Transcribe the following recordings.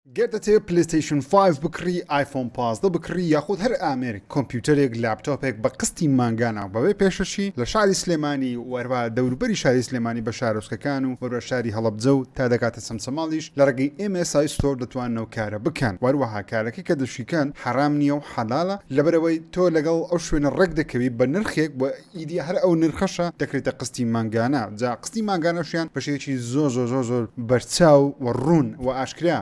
گەر دەتەوێت پلەیستەیشن فایڤ بکڕی، ئایفۆن پازدە بکڕی یاخود هەر ئامێرێک، کۆمپیوتەرێک، لاپتۆپێک بە قستی مانگانە و بەبێ پێشەکی، لە شاری سلێمانی و هەروەها دەوروبەری شاری سلێمانی بە شارۆچکەکان و هەروەها شاری هەڵەبجە و تا دەگاتە چەمچەماڵیش لە ڕێگەی ئێم ئێس ئای ستۆر دەتوانن ئەو کارە بکەن و هەروەها کارەکە کە دەشیکەن حەرام نییە و حەلالە لەبەرئەوەی تۆ لەگەڵ ئەو شوێنە ڕێکدەکەوی بە نرخێک و ئیدی هەر ئەو نرخەشە دەکرێتە قستی مانگانە، جا قستی مانگانەشیان بە شێوەیەکی زۆر زۆر زۆر زۆر بەرچاو و ڕوون و ئاشکرا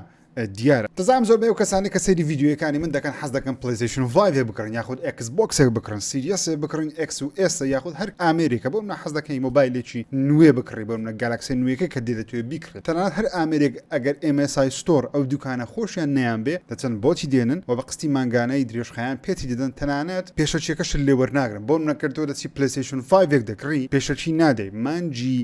دیارە. دەزانم زۆربەی ئەو کەسانەی کە سەیری ڤیدیۆیەکانی من دەکەن حەز دەکەن پلەیستەیشن فایڤێک بکڕن یاخود ئێکس بۆکسێک بکڕن، سیریەسێ بکڕن، ئێکس و ئێسە یاخود هەر ئامێرێکە بۆ منە حەز دەکەی مۆبایلێکی نوێ بکڕی بۆ منە گالاکسێ نوێکە کە دێ دەتەوێ بیکڕی. تەنانەت هەر ئامێرێک ئەگەر ئێم ئێس ئای ستۆر ئەو دوکانە خۆشیان نەیانبێ دەچن بۆتی دێنن و بە قستی مانگانەی درێژخایەن پێتی دەدەن تەنانەت پێشەکیەکەشت لێ وەرناگرن بۆ نمونە گەر تۆ دەچی پلەیستەیشن فایڤێک دەکڕی پێشەکی نادەی مانگی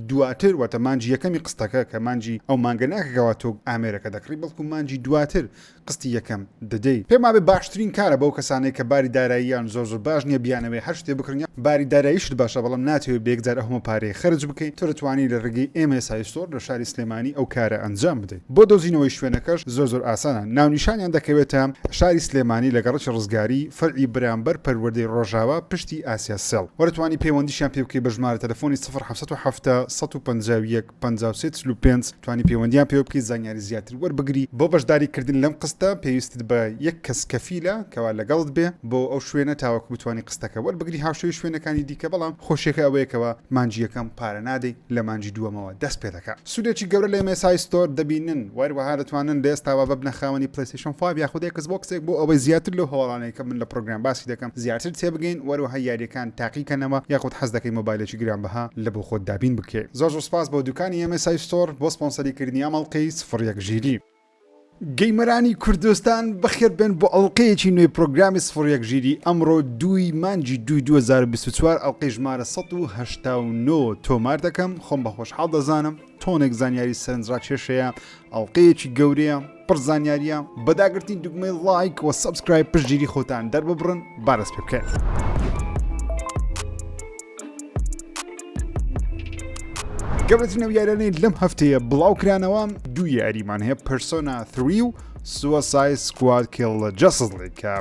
دواتر واتە مانگی یەکەمی قستەکە کە مانگی ئەو مانگە ناکە کەوا تۆ ئامێرەکە دەکڕی بەڵکو مانگی دواتر قستی یەکەم دەدەی. پێم وابێ باشترین کارە بەو کەسانەی کە باری داراییان زۆر زۆر باش نیە بیانەوێ هەر شتێ بکڕن یان باری داراییشت باشە بەڵام ناتەوێ بە یەکجار ئەو هەموو پارەیە خەرج بکەی تۆ دەتوانی لە ڕێگەی MSI Store لە شاری سلێمانی ئەو کارە ئەنجام بدەی بۆ دۆزینەوەی شوێنەکەش زۆر زۆر ئاسانە ناونیشانیان دەکەوێتە شاری سلێمانی لە گەڕەکی ڕزگاری فەرعی بەرامبەر پەروەردەی ڕۆژاوا پشتی ئاسیا سێڵ وە دەتوانی پەیوەندیشیان پێ بکەی بە ژمارە تەلەفۆنی سفر حەڤت و حەفتا سەد و پەنجا و یەک پەنجا و سێ چل و پێنج توانی پەیوەندیان پێوە بکەی زانیاری زیاتر وەربگری بۆ بەشداری کردن لەم قستە پێویستت بە یەک کەس کەفیلە کەوا لەگەڵت بێ بۆ ئەو شوێنە تاوەکو بتوانی قستەکە وەربگری هاوشێوەی شوێنەکانی دیکە بەڵام خۆشیەکە ئەوەیە کەوا مانگی یەکەم پارە نادەی لە مانگی دووەمەوە دەست پێدەکا سودێکی گەورە لە MSI Store دەبینن وەروەها دەتوانن لە ئێستاوە ببنە خاوەنی شەن فایڤ یاخود ئێکس بۆکسێک بۆ ئەوەی زیاتر لەو هەواڵانەی کە من لە پڕۆگرام باسی دەکەم زیاتر تێبگەین وەروەها یاریەکان تاقیکەنەوە یاخود حەز دەکەی مۆبایلێکی گران بەها لە بۆ خۆت دابین بکەی زۆر زۆر سوپاس بۆ دوکانی ئێمەی سای ستۆر بۆ سپۆنسەری کردنی ئەم ئەڵقەی سفر یەک ژیری. گەیمەرانی کوردستان بەخێر بێن بۆ ئەڵقەیەکی نوێی پڕۆگرامی سفر یەک ژیری ئەمڕۆ دووی مانگی دووی دوو هەزار و بیست و چوار ئەڵقەی ژمارە سەد و هەشتا و نۆ تۆمار دەکەم خۆم بە خۆشحاڵ دەزانم تۆنێک زانیاری سەرنجڕاکێشەیە ئەڵلقەیەکی گەورەیە پڕ زانیاریە بەداگرتنی دگمەی لایک وە سەبسکرایب پشگیری خۆتان دەرببڕن بارەس پێ بکەن. گەورەترین ئەو یارانەی لەم هەفتەیە بڵاوکرانەوە دوو یاریمان هەیە پرسۆنا 3 و سووە سای سکواد کێڵ لە جەسڵێکە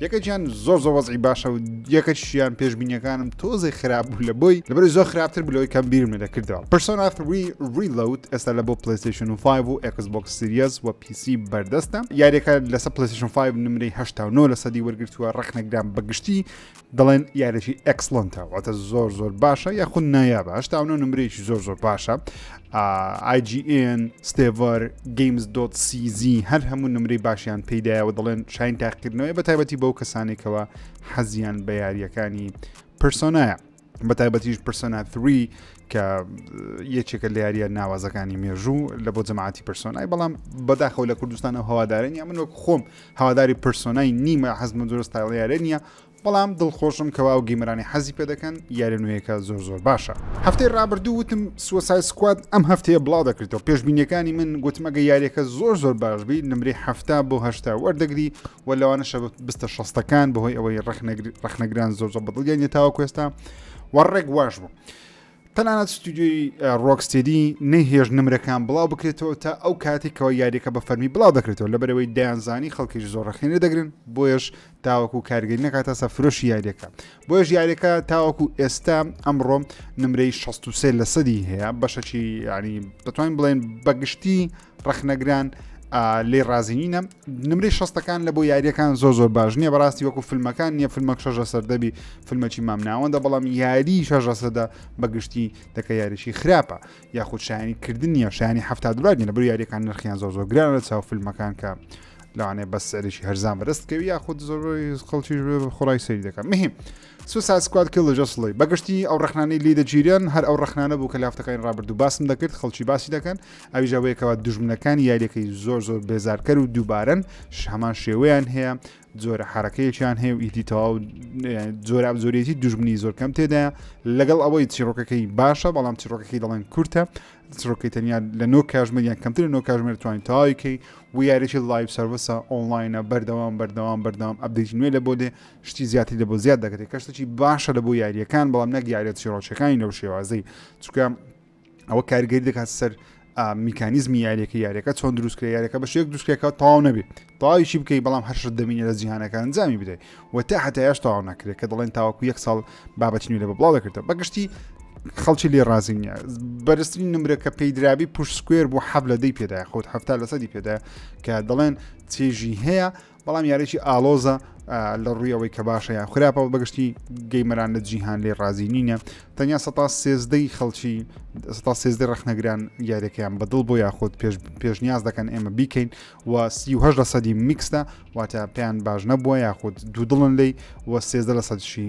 یەکەکیان زۆر زۆ وەزعی باشە و یەکەکیشیان پێشببینیەکانم تۆزێ خراپ بوو لە بۆی لەبەری زۆر خراپتر بلەوەی کەم بیرم لە دەکردەوە پرسۆنا فری ریلوت ئێستا لە بۆ پلیستشن و 5 و ئەکس بۆک سریەز و پیسی بەردەستە یاریەکە لەسە پلیستشن 5 نمرەی 19 لە سەدی وەرگتووە ڕخنەگران بەگشتی دەڵێن یارێکی ئەکسلۆنتە واتە زۆر زۆر باشە یاخود نایە باشتاونە نمرەیەکی زۆر زۆر باشە ئای جی ئێن، ستێڤەر، گەیمز دۆت سی زی هەر هەموو نمرەی باشیان پێیدایەوە دەڵێن شاین تاقیکردنەوەی بە تایبەتی بەو کەسانێکەوە حەزیان بە یاریەکانی پرسۆنایە. بە تایبەتیش پرسۆنا 3 کە یەکێکە لە یاریە ناوازەکانی مێژوو لە بۆ جەماعتی پرسۆنای بەڵام بەداخەوە لە کوردستان ئەو هەوادارە نیە من وەک خۆم هەواداری پرسۆنای نیمە حەزمە جۆرە ستایڵیارە نیە بەڵام دڵخۆشم کەوا ئەو گەیمەرانەی حەزی پێ دەکەن یاریە نوێیەکە زۆر زۆر باشە. هەفتەی ڕابردوو وتم سوسای سکواد ئەم هەفتەیە بڵاو دەکریتەوە پێشبینیەکانی من گوتم ئەگە یاریەکە زۆر زۆر باش بی نمرەی حەفتا بۆ هەشتا وەردەگری وە لەوانەشە بستە شەستەکان بەهۆی ئەوەی ڕەخنەگران زۆر زۆر بەدڵیان یە تاوەکو ئێستا وە ڕێک واش بوو تەنانەت ستودیۆی ڕۆکستێدی نەیهێشت نمرەکان بڵاو بکرێتەوە تا ئەو کاتێکەوە یاریەکە بە فەرمی بڵاو دەکرێتەوە لەبەرەوەی دەیانزانی خەڵکیش زۆر ڕخێنە دەگرن بۆیش تاوەکو کارگەی نەکاتە سە فرۆشی یاریەکە بۆیش یاریەکە تاوەکو ئێستا ئەمڕۆ نمرەی 16 لە سەدی هەیە بەشەکی ینی دەتوانین بڵێن بەگشتی ڕخنەگران لێ ڕازینینە نمرەی شەستەکان لە بۆ یاریەکان زۆر زۆر باش نییە بەڕاستی وەکو فیلمەکان نییە فیلمەک شەژە سەر دەبی فیلمەکی مام ناوەندە بەڵام یاری شەژە سەدە بەگشتی دەکە یاریشی خراپە یاخود شایانی کردن نیە شایانی هەفتا دلار نیە بر یاریەکان نرخیان زۆر زۆر گران لە چاو فیلمەکان کە لەوانێ بە سەرێکی هەرزان بەرست کەوی یاخود زۆر خەڵکی خۆڕای سەری دەکەم مهم سوساید سکواد کیڵ جەسڵی بە گشتی ئەو ڕخنانەی لی دەگیرێن هەر ئەو ڕخنانە بوو کە لافتەکانی ڕابردوو باسم دەکرد خەڵکی باسی دەکەن ئەوی جاوەیەکەوە دوژمنەکانی یاریەکەی زۆر زۆر بێزارکەر و دووبارەن هەمان شێوەیان هەیە جۆرە حرەکەیەکیان هەیە و ئیدی تەواو جۆراب زۆرێتی دوژمنی زۆر کەم تێدا لەگەڵ ئەوەی چیرۆکەکەی باشە بەڵام چیرۆکەکەی دەڵێن کورتە چرۆکەی تەنیا لە نۆ کاژمەر یان کەمتر لە نۆ کاژمێر توانین تاویکەی و یاریی لایف سرویسە ئۆنلاینە بەردەوام بەردەوام بەردەوام ئەبدیت نوێ لە بۆ دێ شتی زیاتری لەبۆ زیاد دەکرێت کە شتێکی باشە لە بۆ یاریەکان بەڵام نەک یاریە چیڕۆچەکانی لەو شێوازەی چکە ئەوە کارگەری دەکات سەر میکانیزمی یاریەکە یاریەکە چۆن دروستکرێ یاریەکە بە شێک دوستکەکە تاو نەبێت تاویشی بکەیت بەڵام هەر شت دەمینە لە جیهانەکە ئەنجامی بدەیت و تا هەتایش تاوا نەکرێت کە دەڵێن تاوەکو یەک ساڵ بابەتی نوێ لە بەڵاو دەکردە بەگشتی خەڵکی لێ ڕازی نیە بەرزترین نمرە کە پێی درابی پشت سکوێر بۆ حەب لە دەی پێدا خۆت هەفتا لەسەدی پێدا کە دەڵێن چێژی هەیە بەڵام یاریی ئالۆزە لە ڕووی ئەوەی کە باشە یان خراپەوە بەگشتی گەیمەران لە جیهان لێ ڕازی نینە تەنیا سە سێزدەی خەڵکی سە سێزدە ڕخنەگران یاریەکەیان بەدڵ بۆ یاخود پێشنیاز دەکەن ئێمە بیکەین و سیه لە سەدی میکسدا واتە پێیان باش نەبووە یاخود دوودڵن لی و سێزدە لە سەدشی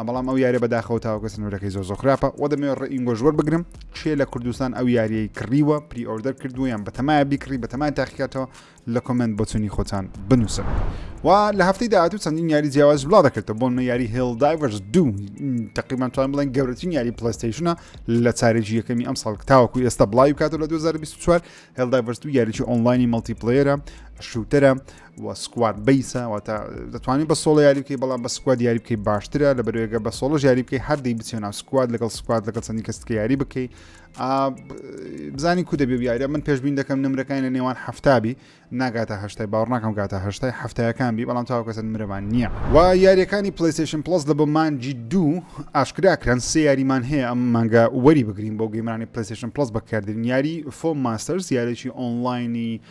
ە بەڵام ئەو یاریە بەداخەوە تاوەکە سنورەکەی زۆر زۆر خراپە وە دەمەوێت ڕێ ئینگۆش وەربگرم چێ لە کوردستان ئەو یاریەی کڕیوە پری ئۆردەر کردووە یان بەتەمایە بیکڕی بەتەمای تاقیکاتەوە لە کۆمنت بۆچونی خۆتان بنووسن و لە هەفتەی داهاتوو چەندین یاری جیاواز بڵا دەکردەوە بۆن یاری هێڵ دایڤرز دوو تقریبان توان بڵێن گەورەترین یاری پلستیشنە لە چارێکی یەکەمی ئەم ساڵ تاوەکو ئێستا بڵاوی کاتەوە لە 2024 هێڵ دایڤرز دوو یاریی ئۆنلاینی مەڵتی پلێرە شوتەرە و و سکواد بیسە واتە دەتوانانی بە سۆڵە یاری بکەی بەڵام بە سکواد یاری بکەی باشترە لە بەرێگە بە سۆڵە یاری بکەی هەردەی بچێن ناو سکواد لەگەڵ سکواد لەگەڵ چەندی کەسکە یاری بکەی بزانانی کو دەبێ یاریە من پێشبین دەکەم نمرەکانی لە نێوان هەفتابی ناگاتە هەشتای باوەڕناکەم گاتە هەشتای هەفتایەکان بی بەڵام تاو کەسن مرەمان نییە و یاریەکانی پلیسیشن پلس لە بۆ مانجی دوو ئاشکراکران سێ یاریمان هەیە ئەم مانگە وەری بگرین بۆ گەیمانی پلیسیشن پلس بەکردن یاری فۆم ماستەرز یارێکی ئۆنلاینی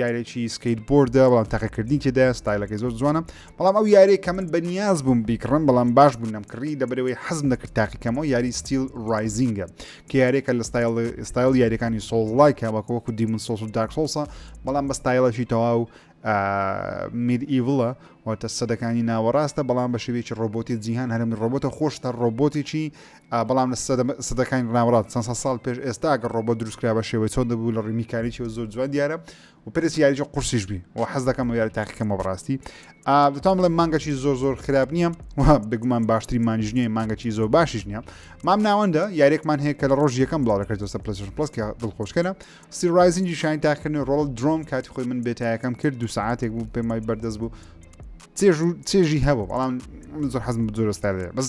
یارێکی سکەیت بۆردە بەڵام تاقیکردنی تێدایە ستایلەکەی زۆر جوانە بەڵام ئەو یارێک کە من بەنیاز بووم بیکڕم بەڵام باش بوون نەم کڕی دەبرەوەی حەزم دەکرد تاقیکەمەوە یاری ستیل ڕایزینگە کە یارێکە لە ستایل ستایل یاریەکانی سۆڵایکە وەکە وەکو دیمون سۆس و داکسۆسە بەڵام بە ستایلەشی تەواو میر ئیڤڵە واتە سەدەکانی ناوەڕاستە بەڵام بە شێوێکی ڕۆبۆتی جیهان هەرمی ڕۆبۆتە خۆشتە ڕۆبۆتێکی بەڵام لە سەدە سەدەکانی ناوەڕاست چەند سەد ساڵ پێش ئێستا ئەگەر ڕۆبۆت دروست کرا بە شێوەی چۆن دەبوو لە ڕووی میکانیکیەوە زۆر جوان دیارە و پێرسی یاریی قورسیش بی و حەز دەکەم و یاری تاقیکەمە بەڕاستی دەتوان بڵێ مانگەچی زۆر زۆر خراپ نییە و بگومان باشتری مانیش نییە مانگەچی زۆر باشیش نییە مام ناوەندە یاریێکمان هەیە کە لە ڕۆژ یەکەم بڵاو دەکرێتەوە سەر پلس پلس کە دڵخۆشکەە سیرایزنجی شانی تاکردن ڕۆڵ درۆم کاتی خۆی من بێتایەکەم کرد دو ساعتێک بوو پێمای بەردەست بوو چێژ و چێژی هەبوو بەڵام زۆر حەزم زۆرستار بەس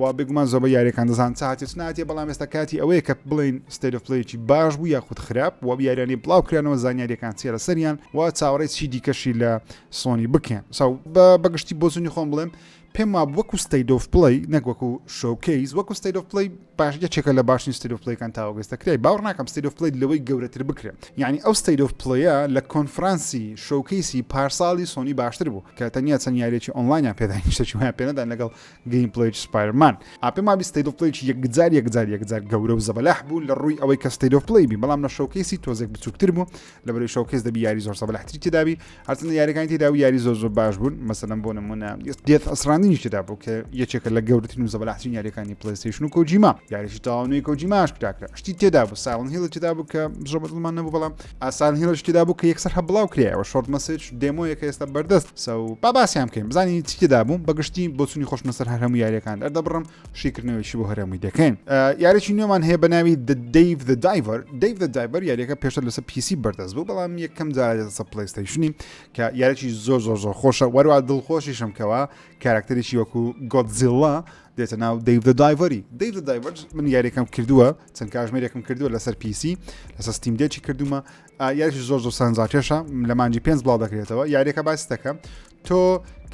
و بێگومان زۆربەی یاریەکان دەزان چ هااتێ چ ناتێ بەڵام ئێستا کاتی ئەوەیە کە بڵین ستەرفلەیەکی باش بوو یاخود خراپ و بیاریانی بڵاوکرانەوە زانیاریەکان چێ لە سەریان و چاوەڕێ چی دیکەشی لە سۆنی بکەن ساو بە بەگشتی بۆزنی خۆم بڵێم پێم وا وەکو ستەیدۆف پڵی نەکوەکو شوکەیز وەکو ستەیدۆف پڵی باش یەکێکە لە باشین ستەیدۆف پلیکان تاوەگەستەکرای باوڕ ناکەم ستەیدۆف پلیت لەوەی گەورەتر بکرێ یعنی ئەو ستەیدۆف پڵەیە لە کۆنفرانسی شوکەیسی پارساڵی سۆنی باشتر بوو کە تەنیا چەند یاریێکی ئۆنلاینیان پێدانیشتەچویان پێدان لەگەڵ گەیمپلەی سپایرمان ئا پێم وابی ستەیت ئۆف پلەیەکی یەکجار یەکجار یەکجار گەورە و زەبەلاح بوو لە ڕووی ئەوەی کە ستەیت ئۆف پلەی بی بەڵام لە شەوکەیسی تۆزێک بچووکتر بوو لە بەرەی شەوکەیس دەبی یاری زۆر زەبەلاحتری تێدابی هەرچەندە یاریەکانی تێدا و یاری زۆر زۆر باش بوون مەسەلەن بۆ نمونە دێت ئەسراندنی تێدا بوو کە یەکێکە لە گەورەترین و زەبەلاحترین یاریەکانی پلیستیشن و کۆجیما یاریشی تاوانەی کۆجیماش کراکرا شتی تێدا بوو ساڵن هێڵی تێدا بوو کە زۆر بەدڵمان نەبوو بەڵام ئاسان هیرۆ چتیدا بوو کە یەکسەر هە بڵاو کرایەوە شۆرت مەسج دێمۆیەکە ئێستا بەردەست سە و با باسیان بکەین بزانین چیدا بووم بەگشتی بۆچنی خۆشمە سەر هەرمو یاریەکان دەردەبڕم شیکردنەوەیشی بۆ هەرمووی دەکەین یاریی نوێمان هەیە بە ناوی دەیڤ دە دایڤەر دەیڤ دە دایبەر یاریەکە پێشتر لەسەر پیسی بەردەست بوو بەڵام یەکەم جارێتەسە پلیستەیشنی کە یاریی زۆر زۆر زۆر خۆشە وەروا دڵخۆشیشم کەەوە کاراکتەرێکی وەکو گۆتزیڵا دێتە ناو دەیڤ دە دایڤەری دەیڤ دە دایڤەر من یاریەکەم کردووە چەند کاژمێرێکم کردووە لەسەر پیسی لەسەر ستیم دێکی کردومە یاریش زۆر زۆر سانزاکێشە لە مانجی پێنج بڵاو دەکرێتەوە یاریەکە باس دەکەم تۆ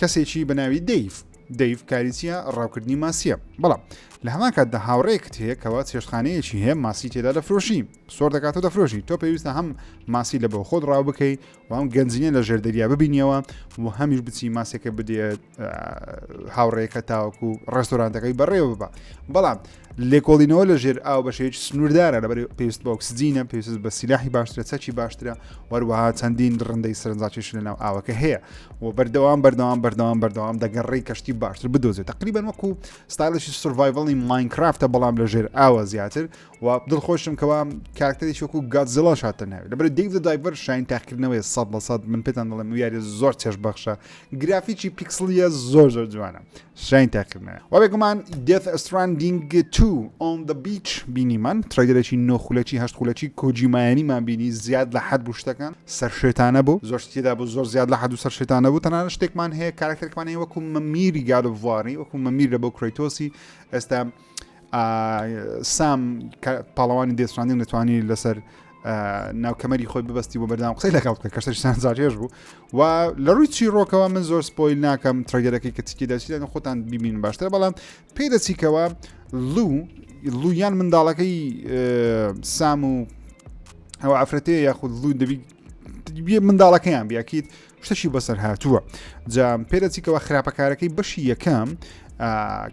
کەسێکی بەناوی دەیف دەیف کاریچیە ڕاوکردنی ماسیە بەڵام لە هەمان کاتدا هاوڕێکت هەیە کەەوە چێشخانەیەکی هەیە ماسی تێدا دەفرۆشی سۆر دەکاتەوە دەفرۆشی تۆ پێویستە هەم ماسی لە بۆ خۆت ڕاو بکەیت و ئەم گەنجینە لە ژێر دەریا ببینیەوە و هەمیش بچی ماسێکە بدێت هاوڕێەکە تاوەکو و ڕێستۆرانتەکەی بەڕێوە ببە بەڵام لێکۆڵینەوە لە ژێر ئاو بە شێوی سنووردارە لەبەر پێویست بە ئۆکسجینە پێویست بە سیلاحی باشترە چەکی باشترە وەروەها چەندین ڕندەی سەرنجاکیش لە ناو ئاوەکە هەیە و بەردەوام بەردەوام بەردەوام بەردەوام دەگەڕی کەشتی باشتر بدۆزێت تقریبان وەکو ستایلشی سڤایڤڵی ماینکرافتە بەڵام لە ژێر ئاوە زیاتر و دڵخۆشم کەوا کارکتەرێکی وەکو گادزڵاش هاتە ناوی لەبەر دیڤ دایڤەر شاین تاقیکردنەوەی سە بە سەد من پێتان دەڵێم و یاری زۆر چێش بەخشە گرافیکی پیکسلیە زۆر زۆر جوانە شاین تاقیکردنە وەێکمان دێت ئەستراندینگ تو ئۆن دە بیچ بینیمان ترایدرێکی نۆخولەکی هەشت خولەکی کۆجیمایانیمان بینی زیاد لە حد بوو شتەکان سەر شێتانە بوو زۆر شتیدا بوو زۆر زیاد لە حد و سەر شێتانە بوو تەنان شتێکمان هەیە کارکتەرکمانەیە وەکو مەمیری گادڤواری وەکو مەمیر لە بۆ کرۆیتۆسی ئێستا سام پاڵەوانی دێسراندن دەتوانی لەسەر ناوکەمەری خۆی ببستی بۆ بەردام قسەی لەگەڵ بکە کە سەرشان زارێژ بوو و لە ڕووی چی ڕۆکەوە من زۆر سپۆیل ناکەم ترگەرەکەی کە چکی دەچیدان خۆتان ببین باشتر بەڵام پێ دەچیکەوە لوو لویان منداڵەکەی سام و ئەو ئافرەتەیە یاخود لوو دەبی منداڵەکەیان بیاکیت شتەکی بەسەر هاتووە جا پێدەچی کەەوە خراپەکارەکەی بەشی یەکەم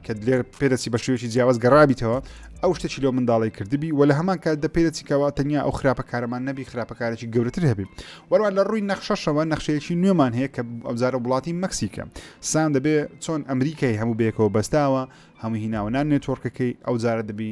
کە لێر پێدەچی بە شوێکی جیاواز گەڕابیتەوە ئەو شتەکی لەو منداڵی کردبی و لە هەمان کات دە پێدەچیکەوە تەنیا ئەو خراپە کارەمان نەبی خراپەکارێکی گەورتر هەبی وەروان لە ڕووی نەخشەشەوە نەخشەیەکی نوێمان هەیە کە ئەوزارە وڵاتی مەکسیکە سام دەبێ چۆن ئەمریکای هەموو بێکەوە بەستاوە هەموو هیناوەنان نێتۆرکەکەی ئەو جارە دەبی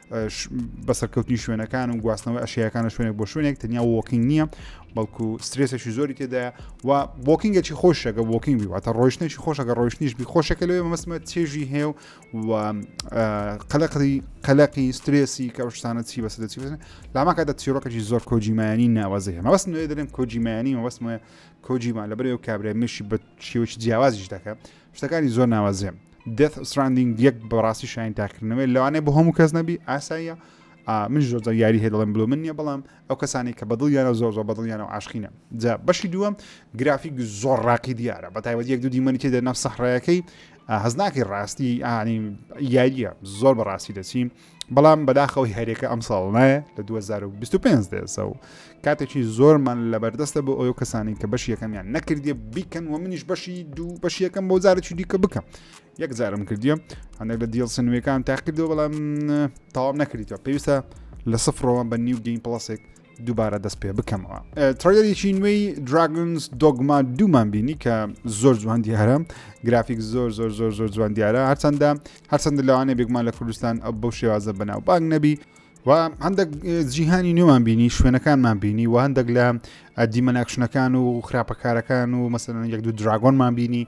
بەسەرکەوتنی شوێنەکان و گواستنەوەی ئەشیەکان لە شوێنێک بۆ شوێنێک تەنیا وۆکینگ نییە بەڵکو سترێسێکی زۆری تێدایە و بۆکینگەکی خۆشەکە بۆکینگ واتە ڕۆشتنێکی خۆشەکە ڕۆشتنیش بی خۆشەکە لەوێ مەسمە چێژی هەیە و قەلەقی قەلەقی سترێسی کە شتانە چی بەسە دەچی بزن لاماکاتە چیرۆکەی زۆر کۆجیمایانی ناوازی هەمە بەس نوێ دەێن کۆجیمایانی مەبەستمە کۆجیمان لەبەرەوە کابرای مشی بە شێوەی جیاوازیش دەکە شتەکانی زۆر ناوازەیە دێت سراندینگ یەک بەڕاستی شاین تاکردنەوەی لەوانێ بۆ هەموو کەس نەبی ئاساییە من زۆرزە یاری هەیە دەڵێن بلو من نیە بەڵام ئەو کەسانی کە بەدڵ یانە زۆر زۆر بەدڵ یانە و عاشقینە جا بەشی دووەم گرافیک زۆر ڕاقی دیارە بە تایبەت یەک دوو دیمەنی تێدا نەف سەحڕەکەی هەزناکی ڕاستی ئانی یاریە زۆر بەڕاستی دەچیم بەڵام بەداخەوەی هەرێکە ئەم ساڵ نایە لە 2025 دێزە و کاتێکی زۆرمان لە بەردەستە بۆ ئەو کەسانی کە بەش یەکەمیان نەکردیە بیکەن و منیش بەشی دوو بەش یەکەم بۆ جارێکی دیکە بکەم یەک جارم کردیە هەندێک لە دیڵ سنوێکان تاقیدەوە بەڵام تاوام نەکردیتەوە پێویستە لە سفرەوە بە نیو گەین پڵسێک دووبارە دەست پێ بکەمەوە تڕێریی نوێی دراگنس دۆگما دوومان بینی کە زۆر جوان دیارە گرافیک زۆر زۆر زۆر زۆر جوان دیارە هەرچەندە هەرچەندە لەوانێ بێگومان لە کوردستان ئەو بەو شێوازە بەناو بانگ نەبی و هەندێک جیهانی نوێمان بینی شوێنەکانمان بینی و هەندێک لە دیمەناکشنەکان و خراپەکارەکان و مەسەن یەک دوو دراگۆنمان بینی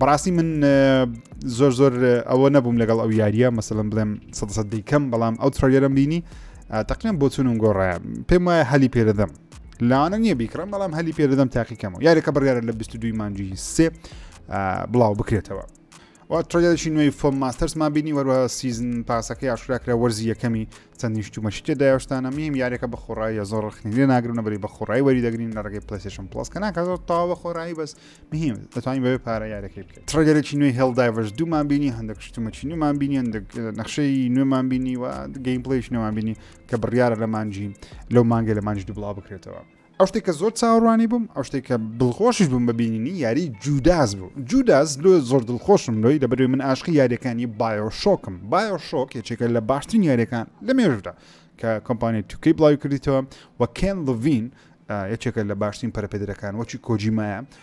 بەڕاستی من زۆر زۆر ئەوە نەبووم لەگەڵ ئەو یاریە مەسەلم بڵێم سە دیکەم بەڵام ئەو تڕێرم بینی تەقیان بۆ چونم گۆڕایە پێم وایە هەلی پێدەدەم لاوانە نییە بیکڕم بەڵام هەلی پێدەدەم تاقیکەمەوە یاریەکە بڕیاە لە 22 مانجی سێ بڵاو بکرێتەوە تڕێدەشی نوێی فۆم ماستەرسمان بینی وەروە سیزن پاسەکەی ئاشراکرا وەرزی یەکەمی چەند نیشتوو مە شتێ دایە شتانە میم یاریەکە بە خۆڕایە زۆر ڕخنی لێ ناگرن نەبری بە خۆڕای وەری دەگرین لە ڕێگەی پلیسشن پلس کە ناکە زۆر تاوا بە خۆڕایی بەس مهم دەتوانین بەێ پارە یارەکەی بکەیت تڕگەرێکی نوێی هێڵدایڤش دوومان بینی هەندێک شتومەچی نوێمان بینی هەندێک نەخشەی نوێمان بینی و گەیم پلیش نوێمان بینی کە بڕیاە لە مانجی لەو مانگە لە مانج دوبڵا بکرێتەوە ئەو شتێک کە زۆر چاوەڕوانی بووم ئەو شتێک کە دڵخۆشیش بووم بە بینینی یاری جوداس بوو جوداس لۆ زۆر دڵخۆشم لۆی لەبەروی من ئاشقی یاریەکانی بایۆ شۆکم بایۆ شۆک یەکێکە لە باشترین یاریەکان لە مێژدا کە کۆمپانیای توکەی بڵاوی کردیتەوە و کێن لڤین یەکێکە لە باشترین پەرپێدرەکان وەکی کۆجیمایە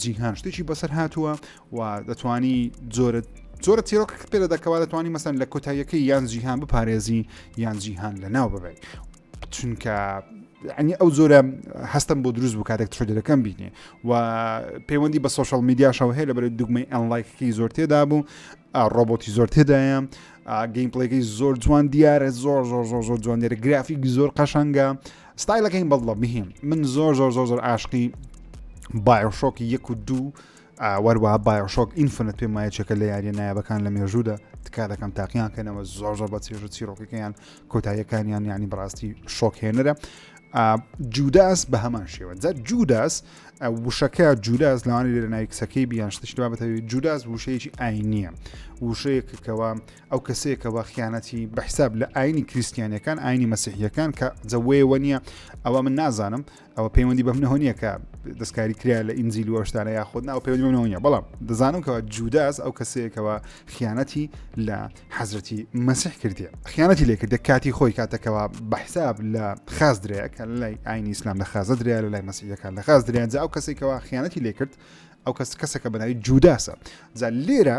جیهان شتێکی بەسەر هاتووە و دەتانی جۆرە زۆرە تیرۆک پێ لە دەکەوا دەتوانانی مەسەن لە کۆتاییەکەی یان جیهان بپارێزی یان جیهان لە ناو ببێت چونکە ئەنی ئەو زۆرە هەستم بۆ دروست بوو کاتێک ترۆدەکەم بینێ و پەیوەندی بە سوۆشال میدیاشەوە هەیە لە بەرەی دوگمەی ئەنلایکەکەی زۆر تێدا بوو ڕۆبۆتی زۆر تێدایە گەیمپلەکەی زۆر جوان دیارە زۆر زۆر زۆر زۆر جوان دیارە گرافیک زۆر قەشەنگە ستایلەکەی بەڵڵە بهیم من زۆر زۆر زۆر زۆر ئاشقی بایۆشۆک یەک و دوو وەروە بایۆشۆک ئینفنت پێم وایە چێکە لە یاریە نایابەکان لە مێژوودا تکا دەکەم تاقییان کەنەوە زۆر زۆر بە چێژ و چیرۆکەکەیان کۆتاییەکانیان ینی بڕاستی شۆکێنەرە جوداس بە هەمان شێوە جا جوداس وشەکە جوداس لەوانی لێرە ناوی کچەکەی بیان شتشتوا بەتەوی جوداس وشەیەکی ئاینیە وشەیەکەوە ئەو کەسەیە کە وا خیانەتی بە حساب لە ئاینی کریسیانەکان ئاینی مەسیحیەکان کە جەوەیەوە نییە ئەوە من نازانم ئەوە پەیوەندی بەم نهۆنیە کە دەستکاری کرا لە ئینجیل وەشتانە یا خۆ ناو پەیوەندی بەمنەوەە بەڵام دەزانم کەەوە جوداس ئەو کەسەیەکەوە خیانەتی لە حەزرەتی مەسیح کردێ خیانەتی لێ کردێ کاتی خۆی کاتەکەەوە بە حساب لە خاز درەیە کە لای ئاینی ئیسلام لە خازە دریا لە لای مەسیحەکان لە خاز درێنجا ئەو کەسێکەوە خیانەتی لێ کرد ئەو کەس کەسەکە بەناوی جوداسە جا لێرە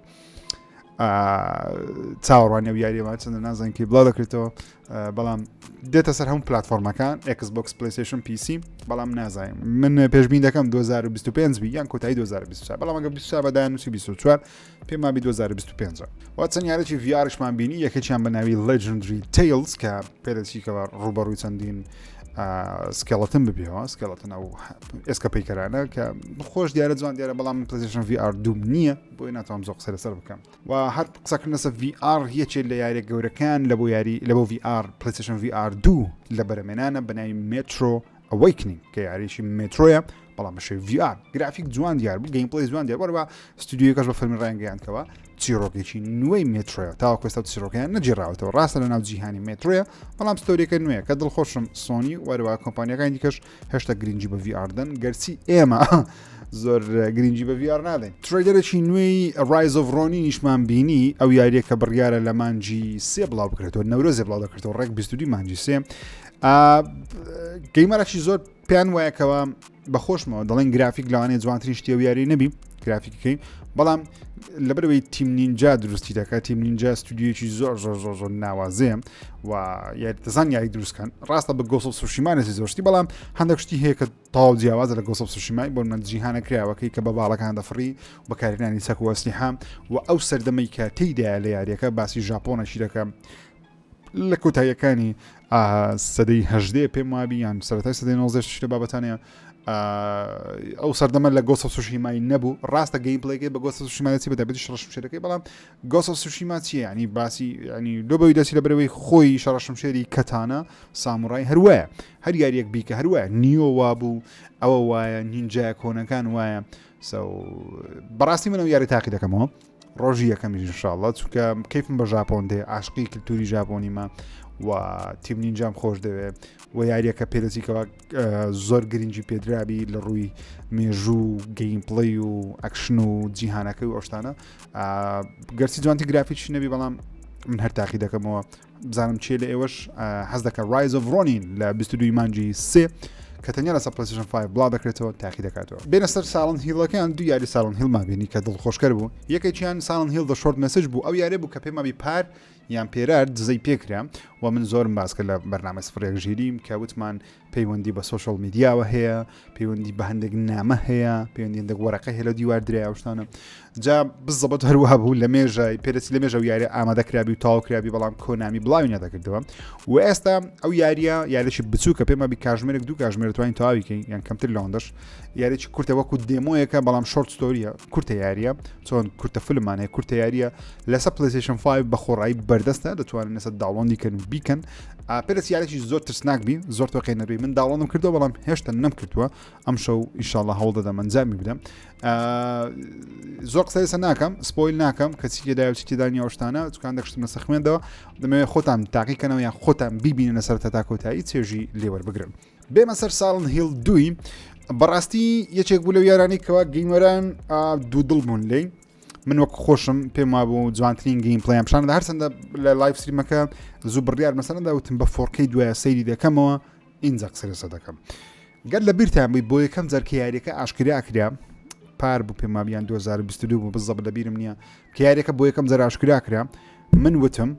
چاوەڕوانی و یاریەوە چەندە نازانکی بڵاو دەکرێتەوە بەڵام دێتە سەر هەموو پلتفۆرمەکان Xbox پلیسشن PC بەڵام نازانین من پێشبین دەکەم 2025 بی یان کۆتایی 2024 بەڵام ئەگە 24 بەدایان نووسی 24 پێما بی 2025 وا چەند یارێکی ڤارشمان بینی یەکێکیان بەناوی Legendary Tales کە پێدەچیکەوە ڕوبەڕووی چەندین سکێڵەتن ببیەوە سکێڵەتن ئەو ئێسکە پیکەرانە کە خۆش دیارە جوان دیارە بەڵام پلیسشن VR دوم نییە بۆی ناتوانم زۆر قسە لەسەر بکەم و هەر قسەکردن لەسەر VR یەکێک لە یاریە گەورەکان لە بۆ یاری لە بۆ VR پلیسشن VR دوو لە بەرەمێنانە بەناوی مترۆ ئەوەیکنین کە یاریشی مترۆیە بەڵام بەشێ VR گرافیک جوان دیار بوو گەیم پلی جوان دیار وەرەوە ستودیوەکەش بە فەرمی ڕانگەیانکەوە چیرۆکێکی نوێی مترۆە تاوەکوێستا چیرۆکیان نەجیێراوەتەوە ڕاستە لە ناو جیهانی مترۆە بەڵام ستۆریەکە نوێە کە دڵخۆشم سۆنی وەرەوە کۆمپانیەکانی دیکەش هێشتا گرنگی بە VR دەن گەرچی ئێمە زۆر گرنگی بە VR نادەین تریدەرێکی نوێی ڕایزۆڤڕۆنی نیشمان بینی ئەو یاریەکە بڕیارە لە مانجی سێ بڵاو بکرێتەوە نەورۆزێ بڵاو دەکرێتەوە ڕێک 22 مانجی سێ گەیمەرەکی زۆر پێیان وایەکەوە بەخۆشمەوە دەڵێن گرافیک لەوانەیە جوانترین شتێ و یاری نەبی گرافیک بکەین بەڵام لەبەرەوەی تیم نینجا دروستی دەکات تیم نینجا ستودیویی زۆر زۆر زۆر زۆر ناوازەیە و یاریتەزان یاری دروستکەن ڕاستە بە گۆسە سوشیمانێسی زۆرشتی بەڵام هەندێک شتی هەیە کە تاو جیاوازە لە گۆسە سوشیمای بۆ من جیهانە کراوەکەی کە بە باڵەکان دەفڕی بەکارهێنانی سەکوەستی حام و ئەو سەردەمەی کە تێیدا لە یاریەکە باسی ژاپۆنەشی دەکەم لە کۆتاییەکانی ئا سەدەی هەژدەیە پێم وابی یان سەرەتای سەدەی نۆزێش لە بابەتانەیە ئا ئەو سەردەمە لە گۆسە سوشیمای نەبوو ڕاستە گەیم پلەیەکەی بە گۆسە سوشیمایەتی بە دەبێت شڕە شمشێرەکەی بەڵام گۆسە سوشیما چیە ینی باسی ینی لۆ بەوی دەچی لە برەوەی خۆی شەڕە شمشێری کەتانە ساموڕای هەروایە هەر یاریەک بیکە هەروایە نیۆ وابوو ئەوە وایە نینجای کۆنەکان وایە سو بەڕاستی منەوە یاری تاقی دەکەمەوە ڕۆژی یەکەمیش انشاءاللە چونکە کەیفم بە ژاپۆن دێ عاشقی کللتوری ژاپۆنیمە و تیم نینجام خۆش دەوێ و یاریەکە پێدەچیکەوە زۆر گرنگی پێدرابی لە ڕووی مێژوو گەیم پڵی و ئەکشن و جیهانەکە و ئەوشتانە گەرچی جوانتی گرافیش نەبی بەڵام من هەر تاقی دەکەمەوە بزانم چیە لە ئێوەش حەز دەکە ڕایز of ڕۆنین لە 22 مانجی سێ کە تەنیا لە سەپلسیشن 5 بڵا دەکرێتەوە تاقی دەکاتەوە بێنە سەر ساڵن هیڵەکەیان دو یاری ساڵن هیلما بینی کە دڵخۆشکەر بوو یەکێکیان ساڵن هیل دە شۆرت مسج بوو ئەو یارێ بوو کە پێمابی پار یان پێرار دزەی پێکرا و من زۆرم باسکە لە بەرنامە سفرێک ژیریم کە وتمان پەیوەندی بە سوشل میدیاوە هەیە پەیوەندی بە هەندێک نامە هەیە پەیوەندی هەندێک وەرەقە هەلە دیوار درای ئەوشتانە جا بزەبت هەروەها بوو لە مێژای پێرسی لە مێژە و یاری ئامادەکرابی و تاوکرابی بەڵام کۆنامی بڵاوی نەدەکردەوە و ئێستا ئەو یاریە یاریشی بچووکە پێمە بی کاژمێرێک دوو کاژمێر توانین تاویکەین یان کەمتر لەوەندەش یاریی کورتە وەکو دێمۆیەکە بەڵام شۆرت ستۆریە کورتە یاریە چۆن کورتە فلمانەیە کورتە یاریە لەسە پلیسیشن 5 بە خۆڕایی بەردەستە دەتوانن لەسە داڵۆندی کەن و بیکەن پرسیارێکی زۆر ترسناک بی زۆر تۆقی نەبی من داوەڵم کردو بەڵام هێشتا نەم کردووە ئەم شەو ئیشاڵە هەوڵ دەدەم ئەنجامی بدەم زۆر قسەسە ناکەم سپۆیل ناکەم کەچی تێدا و تێدانی ئەوشتانە چکان دەکشتمە سەخمێندەوە دەمەوێ خۆتان تاقیکەنەوە یان خۆتان بیبینە لەسەر تا کۆتایی چێژی لێوەربگرن بێمە سەر ساڵن هیل دوی بەڕاستی یەکێک بوو لەو یارانی کەوا گەیمەران دوو دڵ بوون لێی من وەک خۆشم پێم وابوو جوانترین گرین پلیان پیشان هەر چنددە لە لایف سریمەکە زوو بڕیار مەسەندا وتم بە فۆرکەی دوایە سەیری دەکەمەوە ئینجا قسەرسە دەکەم گەر لە بیرتان بووی بۆ یەکەم جەرکە یاریەکە ئاشکرا کرا پار بوو پێمابیان 2022 بوو بزەب لە بیرم نییە کارێکە بۆ یەکەم جەر ئاشکرا کرا من وتم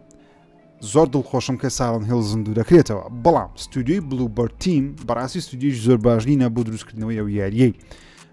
زۆر دڵخۆشم کە ساڵن هێڵ زیندوو دەکرێتەوە بەڵام ستودیوی بلوبەر تیم بەڕاستی ستودیش زۆر باشنی نەبوو دروستکردنەوەی ئەو یاریەی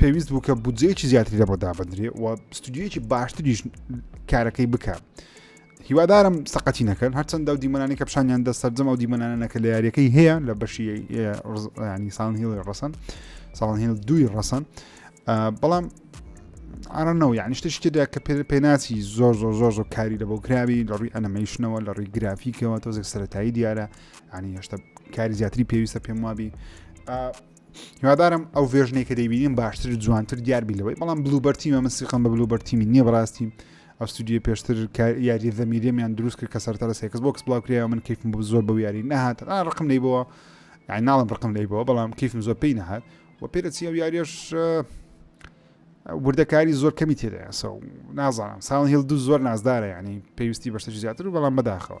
پێویست بوو کە بودجەیەکی زیاتری لە بۆ دابدرێ و ستودیویەکی باشتریش کارەکەی بکە هیوادارم سەقەتی نەکەن هەرچەندە و دیمەنانی کە پیششانیان دە سەررجەم ئەو دیمەنانەکە لە یاریەکەی هەیە لە بەشی ینی سان هیڵی ڕسن ساڵان هیل دووی ڕسن بەڵام ئارەنەوە یعنی شتە شتێدا کە پێناسی زۆر زۆر زۆر زۆر کاری لە بۆ کراوی لە ڕووی ئەنەمەیشنەوە لە ڕووی گرافیکەوە تۆزێک سەتایی دیارە ینی هێشتا کاری زیاتری پێویستە پێم وابی هیوادارم ئەو ڤێژنەی کە دەیبینیم باشتر جوانتر دیار بی لەوەی بەڵام بلوبەر تیمە من سیقم بە بلوبەر تیمی نییە بەڕاستی ئەو ستودیو پێشتر یاری زەمیرێمیان دروست کرد کە سەرتا لە سێکس بۆکس بڵاوکرێەوە من کەیفم بۆ زۆر بە یاری نەهات ڕقم لی بەوە یعنی ناڵم ڕقم لی بەوە بەڵام کەیفم زۆر پێی نەهات و پێرەچی ئەو یاریش وردەکاری زۆر کەمی تێدایە سە نازانم ساڵ هێڵ دوو زۆر نازدارە ینی پێویستی بەشتە زیاتر و بەڵام بەداخەوە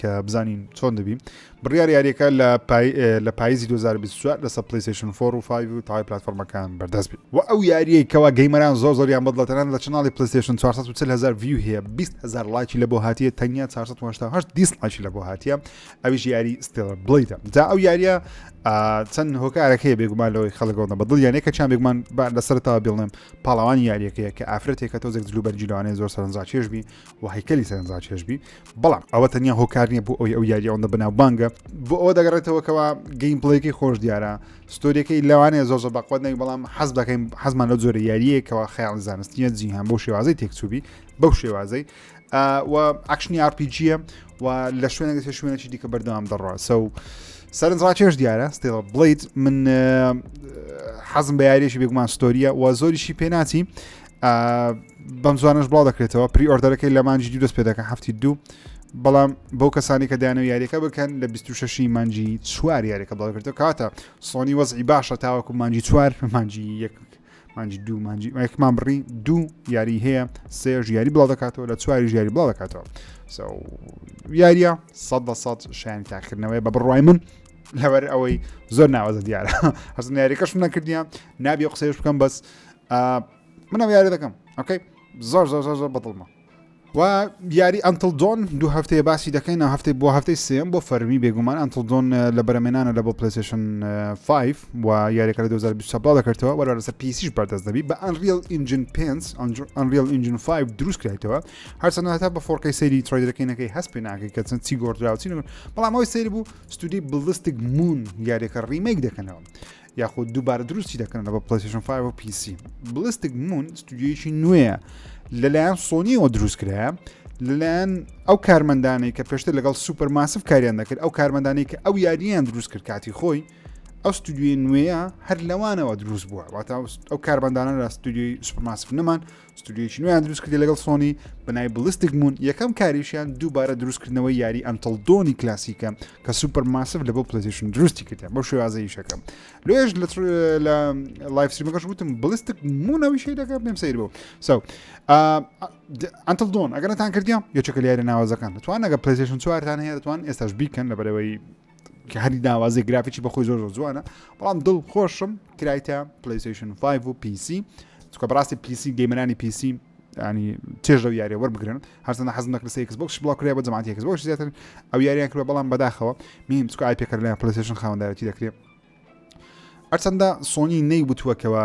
کە بزانین چۆن دەبی بڕیار یاریەکە لە لە پاییزی 2024 لەسە پلیسیشن فۆر و فای و تای پلتفۆرمەکان بەردەست بێت و ئەو یاریە کەوا گەیمەران زۆر زۆریان بەدڵەتەران لە چناڵی پلیسیشن 440هزار ویو هەیە 20هزار لایکی لە بۆ هااتیە تەنیا 480 دیست لایکی لە بۆ هااتە ئەویش یاری ستێڵ بڵیتە جا ئەو یاریە چەند هۆکارەکەی بێگومان لەوەی خەڵگەوە بە دڵ یانەکە چیان بێگومان لەسەرتاوە بڵێم پاڵەوانی یاریەکەیە کە ئافرەتێکە تۆزێک جلوبەرجیلوانێ زۆر سەرنجاکێش بی و هەیکەلی سەرنجڕاکی هەشبی بەڵام ئەوە تەنیا هۆکار نییە بۆ ئەوی ئەو یاری ئەوەندە بەناو بانگە بۆ ئەوە دەگەڕێتەوە کەوا گەیم پڵەیەکەی خۆش دیارە ستۆریەکەی لەوانەیە زۆر زۆر بەقوت نەوی بەڵام حەز دەکەین حەزمان لە زۆرە یاریەکەەوە خیاڵ زانستیە جیهان بۆ شێوازی تێکچوبی بەو شێوازەی و ئاکشنی ئارپیجیە و لە شوێنە دەێت شوێنێکی دیکە بەردەوام دەڕە سە و سەرنجڕاکێش دیارە ستێڵە بڵیت من حەزم بە یاریێکی بێگومان ستۆریە و زۆریشی پێناچی بەم زوانش بڵاو دەکرێتەوە پری ئۆردەرەکەی لە مانجی دوو دەست پێ دەکەن هەفتی دوو بەڵام بەو کەسانی کە دایانە یاریەکە بکەن لە 26 مانجی چوار یاریەکە بڵاوکردەوە کاتە سۆنی وەزعی باشە تاوەکو مانجی چوار مانجی یەک مانجی دوو مانجی یەکمان بڕی دوو یاری هەیە سێژ یاری بڵاو دەکاتەوە لە چواری ژیاری بڵاو دەکاتەوە یاریە سە دە سە شایانی تاکردنەوەی بە بڕای من لەوەر ئەوەی زۆر ناوازە دیارە هەست ناریەکەش نەکردیان نابی قسەش بکەم بەس منم یاری دەکەم ئۆکەی زۆر زۆر زۆر زۆر بەدڵمە و یاری ئەتل دۆن دو هەفتەیە باسی دەکەین هەفتەی بۆ هەفتەی سم بۆ فەرمی بێگومان ئەتل دۆن لە بەرەمێنانە لە بۆ پلیسشن 5 و یاریەکە لە 2020 بڵاو دەکردەوە وەرە لەسەر پیسیش بەردەست دەبی بە ئەنریل ئینجن پێنج ئەنریل ئینجن 5 دروست کرێتەوە هەرچەند هەتا بە فۆرکەی سەیری ترۆیدەکەینەکەی هەست پێ ناکەی کە چەند چی گۆردراوچین بەڵام ئەوی سەیر بوو ستودی بڵستیک مون یاریەکە ڕیمەیک دەکەنەوە یاخود دووبارە دروستی دەکەنەوە بە پلەیستشن 5 و پیسی بلستک مون ستودیویی نوێە لەلایەن سۆنیەوە دروستکرایە لەلایەن ئەو کارمەندانەی کە پێشتر لەگەڵ سوپەر ماسف کاریان دەکرد ئەو کارمەندانی کە ئەو یاریان دروست کرد کاتی خۆی ئەو ستودیوی نوێە هەر لەوانەوە دروست بووە واتە ئەو کاربندانە لە ستودیوی سوپماسف نەمان ستودیۆیەکی نوێیان دروست کردی لەگەڵ سۆنی بەنای بلستیک مون یەکەم کاریشیان دووبارە دروستکردنەوەی یاری ئەنتڵ دۆنی کلاسیکە کە سوپەر ماسف لە بۆ پلسیشن دروستی کردیان بۆ شێوازەیشەکەم لێش لە لایفسیمەکەش وتم بلستک مونەویشی دەکە پێم سیر بوو سو ئەنتڵ دۆن ئەگەرتان کردیان یەکەکە یاری ناوازەکان دەتوان ئەگە پلسیشن چوارتان هەیە دەتوان ئێستاش بیکەن لە بەرەوەی کە هەری ناوازی گرافیی بەخۆی زۆر زۆر جوانە بەڵام دڵ خۆشم کرایتە پلیسیشن 5 و پیسی چکە بەڕاستی پیسی گەیمەرانی پیسی ینی چێژ لەو یاریە وەربگرن هەرزانە حەز نەکرد سێکس بۆکس بڵاکرێ بە جماعاتێکس بۆش زیاتر ئەو یاریان کرد بەڵام بەداخەوە میم چکە ئای پێکردلای پلیسیشن خاوەندارەتی دەکرێت هەرچەندە سۆنی نەیوتووە کەەوە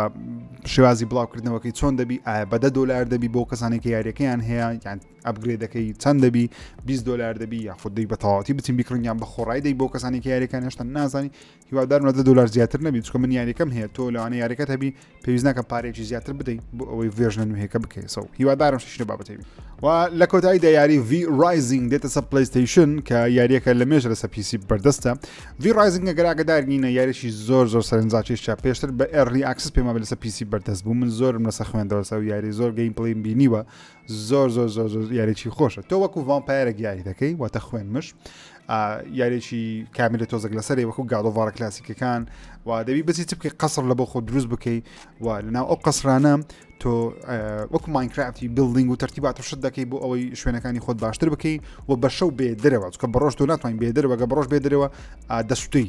شێوازی بڵاوکردنەوەکەی چۆن دەبی ئایا بەدە دلار دەبی بۆ کەسانێکی یاریەکەیان هەیە یان ئەبگرێدەکەی چەند دەبی 20 دلار دەبی یا خودی بە تەواتی بچین بکردیان بە خۆڕای دەی بۆ کەسانێکی یاریەکان هێشتا نازانی هیوادارمەدە دلار زیاتر نەبی چکە من یاریەکەم هەیە تۆ لەوانە یاریەکەت هەبی پێویست ناکە پارێکی زیاتر بدەیت بۆ ئەوەی ڤێژنە نوێیەکە بکەیسەوە هیوادارم شتشنە بابەتی و لە کۆتایی دا یاری V Rising دێتە سە پلیستیشن کە یاریەکە لە مێژ لەسە پیسی بەردەستە V Rising گەراگەدارگینە یاریشی زۆر زۆر سەرنجاچێشا پێشتر بە ئەڕی ئاکسس پێما لەسە پیسی بەردەست بوو من زۆرم لەسە خوێندەوەسە و یاری زۆر گەیم پڵیم بینیوە زۆر زۆر زۆر زۆر یاریی خۆشە تۆ وەکو ڤامپایرە گیاری دەکەی واتە خوێن مش یاریی کامیلە تۆزەک لەسەری وەکو گاڵۆڤارە کلاسیکەکان و دەبی بەسی چ بکەی قەسڕ لە بۆ خۆ دروست بکەی و لەناو ئەو قەسرانە تۆ وەکو ماینکرافتی بلدنگ و ترتیبات و شت دەکەی بۆ ئەوەی شوێنەکانی خۆت باشتر بکەی و بە شەو بێ درەوە چکە بەڕۆژ تۆ ناتوانین بێ درەوەگە بڕۆژ بێ درەوە دەستی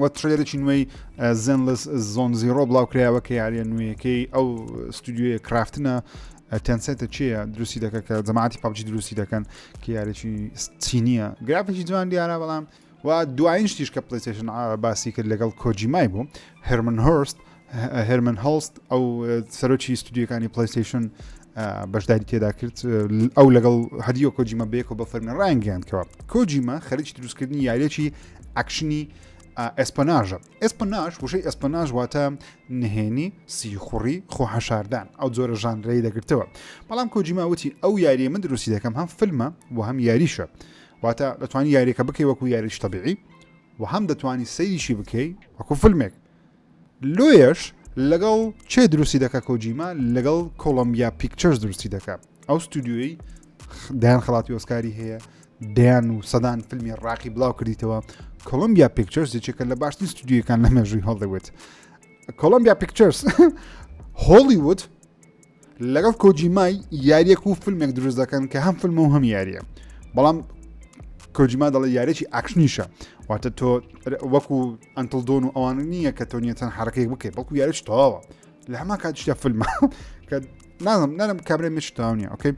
وە ترێرێکی نوێی زنلس زۆن زیرۆ بڵاوکرایەوە کە یاریە نوێیەکەی ئەو ستودیوە کرافتنە تەنسێتە چیە دروستی دەکە کە جەماعتی پاپجی دروستی دەکەن کە یارێکی چینیە گرافێکی جوان دیارە بەڵام و دوایین شتیش کە پلیتشن باسی کرد لەگەڵ کۆجیمای بوو هەرمن هۆرست هێرمن هەڵست ئەو سەرۆکی ستودیوەکانی پلیستیشن بەشداری تێدا کرد ئەو لەگەڵ هەدیۆ کۆجیمە بێکەوە بە فەرمی ڕانگەیاندکەوە کۆجیمە خەریکی دروستکردنی یاریەکی ئەکشنی ئەسپەناژە ئەسپەناش وشەی ئەسپەناژ واتە نهێنی سیخوڕی خۆحەشاردان ئەو جۆرە ژانرەی دەگرتەوە بەڵام کۆجیما وتی ئەو یاریە من دروستی دەکەم هەم فلمە و هەم یاریشە واتە دەتوانانی یاریەکە بکەی وەکو یاریش تەبیعی و هەم دەتوانانی سەیریشی بکەی وەکو فلمێک لۆیەش لەگەڵ چێ دروستی دەکە کۆجیما لەگەڵ کۆڵمبیا پیکچەرز دروستی دەکە ئەو ستودیۆی دایان خڵاتی ئۆسکاری هەیە دەیان و سەدان فیلمی ڕاقی بڵاو کردیتەوە کۆلمبیا پیکچەرز یەکێکە لە باشترین ستودیوەکان لە مێژووی هەڵدەوێت کۆلمبیا پیکچەرز هۆڵیوود لەگەڵ کۆجیمای یاریەک و فیلمێک دروست دەکەن کە هەم فیلم و هەم یاریە بەڵام کۆجیما دەڵی یارێکی ئاکشنیشە واتە تۆ وەکو ئەتل دۆن و ئەوان نییە کە تۆ نیەتەن حرەکەی بکەیت بەڵکو یارش تەواوە لە هەما کاتشتە فیلمە کە نازم نەرم کابرای مش تاونیە ئۆکەی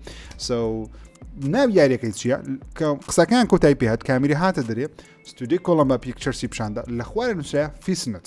سو ناو یاریەکەی چییە کە قسەکان کۆتای پێهات کامیری هاتە دەرێ ستودی کۆڵم بە پیکچەرسی پیشاندا لە خوارە نووسە فیسنت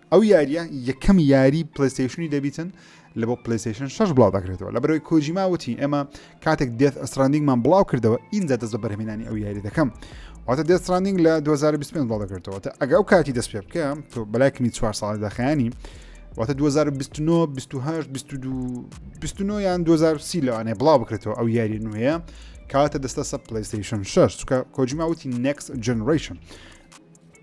ئەو یاریە یەکەم یاری پلیستیشنی دەبیتن لە بۆ پلیستیشن شش بڵاو دەکرێتەوە لە بەرەوەی کۆجیما وتی ئێمە کاتێک دێت ئەستراندینگمان بڵاو کردەوە ئینجا دەست بە بەرهمێنانی ئەو یاری دەکەم واتە دێت ستراندینگ لە 2025 بڵاو دەکردەوە تا ئەگە ئەو کاتی دەست پێ بکەم تۆ بەلایکمی چوار ساڵی داخیانی واتە 2029 28 22 29 یان 2030 لەوانەیە بڵاو بکرێتەوە ئەو یاری نوێە کاتە دەستە سە پلیستیشن 6 چکە کۆجیما وتی نکس جنریشن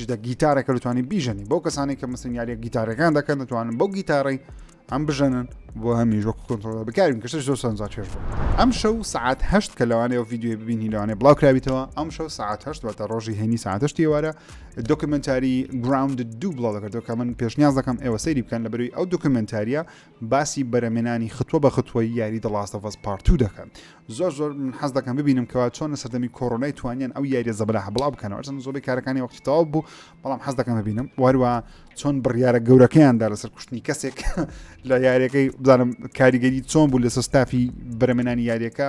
جدە گیتارەکە دەتوانانی بیژەنی بۆ کەسانی کە مەسن یاریە گیتارەکان دەکەن دەتوانن بەو گیتارەی ئەم بژەنن بۆ هەمیش وەکو کۆنتۆل بکارین کەش زۆر سەنجا چێش بوو ئەم شەو سعات هەشت کە لەوانەیە و یددیوی ببینی لەوانێ بڵاوکراویتەوە ئەم شەو سعات هەشت واتە ڕۆژی هێنی ساعتشتی وارە دۆکمنتاری گراوند دوو بڵاو دەکردەوە کە من پێشنیاز دەکەم ئێوە سەیری بکەن لە بەروی ئەو دۆکمنتاریە باسی بەرەمێنانی ختوە بە ختوەی یاری دە ڵاست ئۆف ئەس پارت تو دەکەن زۆر زۆر من حەز دەکەم ببینم کەوا چۆن لە سەردەمی کۆرۆنای توانیان ئەو یاریە زەبەلاح بڵاو بکەنەوە هەرچەند زۆری کارەکانی وەختی تەواو بوو بەڵام حەز دەکەم ببینم واروا چۆن بڕیارە گەورەکەیاندا لەسەر کوشتنی کەسێک لە یاریەکەی بزانم کاریگەری چۆن بوو لەسەر ستافی بەرەمێنانی یاریەکە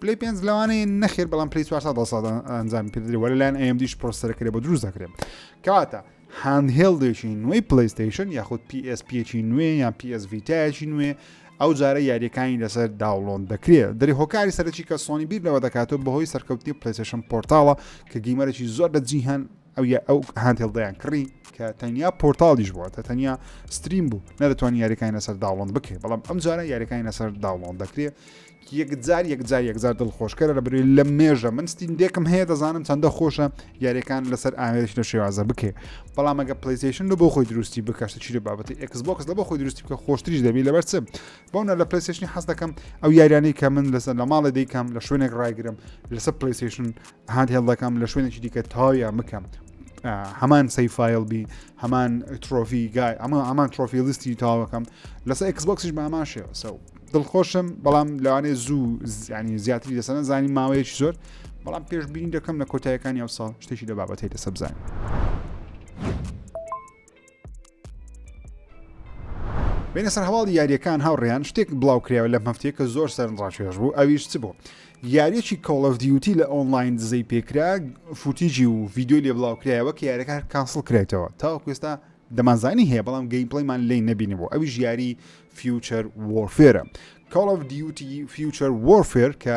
پلەی پێنج لەوانەیە نەخێر بەڵام پلی 400 ساڵ ئەنجام پێدرێ وە لەلایەن ئەمدیش پرۆسەرەکرێ بە دروست دەکرێت کەواتە هاندهێڵدێکی نوێی پلیستیشن یاخود PSPێکی نوێ یان PS ڤیتایەکی نوێ ئەو جارە یاریەکانی لەسەر داوڵۆن دەکرێت دەری هۆکاری سەرەکی کە سۆنی بیر لەوە دەکاتەوە بەهۆی سەرکەوتنی پلیسشن پۆرتاڵە کە گیمەرەی زۆر لە جیهان ئەو یا ئەو هاندێڵ دەیان کڕی کە تەنیا پۆرتاڵیش بووە تا تەنیا ستریم بوو نەدەتوانانی یاریەکانی لەسەر داڵۆن بکرێت بەڵام ئەم جارە یاریەکانی لەسەر داڵۆن دەکرێت یەکجار یەکجار یەکجار دڵ خۆشکەرە لە بروی لە مێژە من ستین دێکم هەیە دەزانم چەندە خۆشە یاریەکان لەسەر ئامێش لە شێوازە بکێ بەڵام ئەگە پلیسیشن لە بۆ خۆی دروستی بکەشتە چی لە بابەتی ئەکسبکس لە بۆ خۆی دروستی بکە خۆشتریش دەبی لەبەر چم بۆنە لە پلیسیشنی حەز دەکەم ئەو یاریانی کە من لەسەر لە ماڵە دیکەم لە شوێنێک ڕایگرم لەسەر پلیسیشن هاند هێڵ دەکەم لە شوێنێکی دیکە تاویان بکەم هەمان سی فیل بی هەمان ترۆفی گای ئەمە ئەمان ترۆفی لیستی تاوەکەم لەسەر ئەکسبکسیش بە ئەمان شێوە سەو دڵخۆشم بەڵام لەوانێ زوو زیانی زیاتری لەسەر زانی ماوەیەکی زۆر بەڵام پێشببینی دەکەم لە کۆتایەکانی ئەو ساڵ شتێکی لە بابەتی لە سەبزانین. بینە سەر هەواڵی یاریەکان هاوڕێیان شتێک بڵاو کراوە لەم هەفتەیە کە زۆر سەرنجڕاکێش بوو ئەویش چ بوو یاریەکی کۆڵف دیوتی لە ئۆنلاین دزەی پێکرا فوتیجی و ڤیددیو لێ بڵاو کرایەوە کە یارەکە کانسڵ کرێتەوە تاوەکوێستا دەمانزانی هەیە بەڵام گەیم پڵیمان لی نبینی بۆ ئەوی ژیاری فیوچەر وۆرفێرە کاڵف دیوتی فیوچەر وۆرفێر کە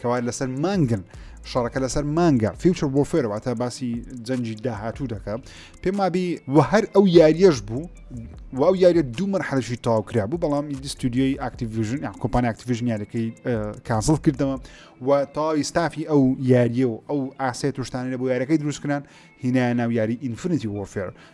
کەوات لەسەر مانگن شەڕەکە لەسەر مانگە فیوچر بۆ فێرەواتە باسی جەنجی داهاتوو دەکە پێم وابی و هەر ئەو یاریەش بوو و ئەو یاریە دوو مەرحەلشی تاوکرا بوو بەڵام دیستودیۆی ئاکتیڤژن یان کۆپان ئاکتیڤژن یاریەکەی کانسڵ کردەوە و تاوی ستافی ئەو یاریە و ئەو ئاسێت توشتانە بۆ یاریەکەی دروستکران هینایە ناو یاری ئینفنیتی وۆفێر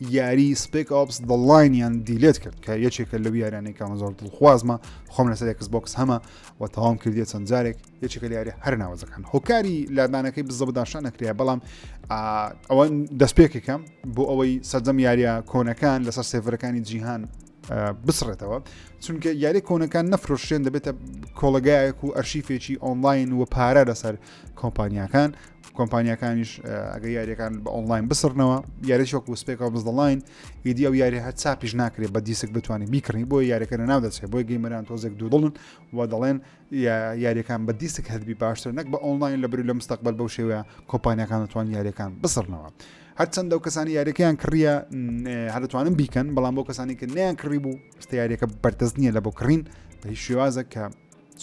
یاری سپێک ئۆپس دە لاینیان دیلێت کرد کە یەکێکە لەو یارانەی کامە زۆر دڵخوازمە خۆم لەسەر ئەکس بۆکس هەمە و تەواوم کردیە چەند جارێک یەکێکە لە یاری هەر ناوەزەکان هۆکاری لادانەکەی بزە بداشان نەکرێ بەڵام ئەوە دەستپێکێکم بۆ ئەوەی سەرجەم یاریە کۆنەکان لەسەر سێڤەرەکانی جیهان بسڕێتەوە چونکە یاری کۆنەکان نەفرۆشێن دەبێتە کۆڵگایەک و ئەرشیفێکی ئۆنلاین و پارە لەسەر کۆمپانیاکان کۆمپانیاکانیش ئەگە یاریەکان بە ئۆنلاین بسرنەوە یاریش وەکو سپێکەوە بزدڵین ئیدی ئەو یاری هەر چاپیش ناکرێت بە دیسک بتوانانی بیکڕی بۆ یاریەکە ناو دەچێت بۆی گەیمەران تۆزێک دوودڵن و دەڵێن یاریەکان بە دیسک هەربی باشتر نەک بە ئۆنلاین لە بری لە مستەقبل بەو شێوەیە کۆمپانیەکان دەتوان یاریەکان بسرنەوە. هەرچەندە و کەسانی یاریەکەیان کڕە هەرتوانم بیکەن بەڵام بۆ کەسانی کە نیان کڕی بوو ستیارەکە بەردەست نییە لە بۆ کڕین بە هیچ شێوازە کە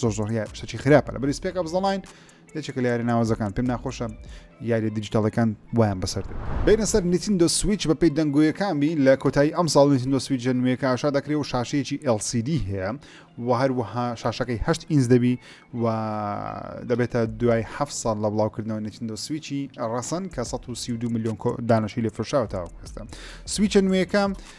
زۆر زۆر شتێکی خراپە لە بەریسپێک ئەبزەڵین یەکێکە لە یاری ناوازەکان پێم ناخۆشە یاری دیجیتالەکان وایان بەسەر دێت بینە سەر نتیندۆ سویچ بە پێی دەنگۆیەکانی لە کۆتایی ئەم ساڵ نتیندۆ سویچ نوێەکە ئاشا دەکرێ و شاشەیەکی LCD هەیە و هەروەها شاشەکەی هەشت ئینز دەبی و دەبێتە دوای ه ساڵ لە بڵاوکردنەوە نتیندۆ سویچی ڕەسەن کە 132 میلیۆن دانشی لە فرشاوە تاوەکەستە سویچە نوێەکە